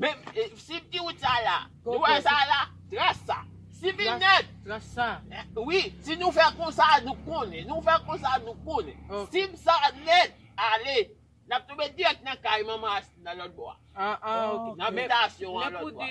Menm si ti wout sa la. Nou wè sa la? Tras sa. Si vin nèt. Tras sa. Wi. Si nou fè konsa nou konnen. Nou fè konsa nou konnen. Si sa nèt. Ale. Nap touve dirèk nan kay manman Asli nan lòt bò a. Nan bitasyon an lòt bò a.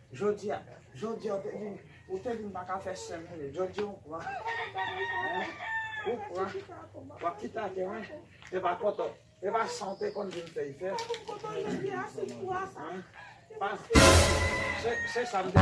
Jodia Jodia ou te vin ou te vin paka fè sè mele Jodia ou pran hein ou pran wap kite ate mwen e pa koto e pa san ou te konn vin fè fè hein pa se se sa m te